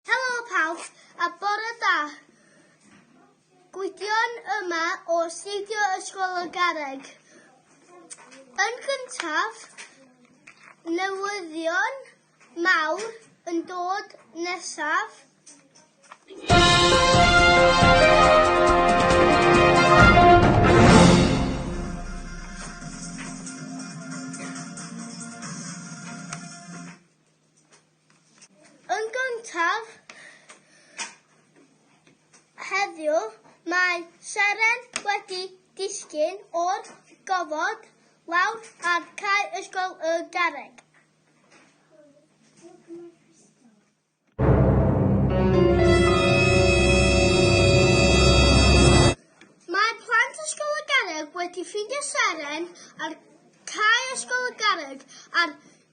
Helo pawb a bore da! Gwydion yma o Astudio Ysgol y Garreg. Yn gyntaf, newyddion mawr yn dod nesaf. Yn gyntaf, heddiw, mae Seren wedi disgyn o'r gofod lawr ar cae Ysgol y Garreg. Mae plant Ysgol y Garreg wedi ffindio Seren ar cae Ysgol y Garreg ar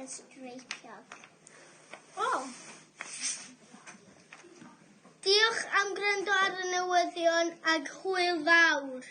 yn streicio. O! Diolch am gwrando ar y newyddion ag hwyl fawr.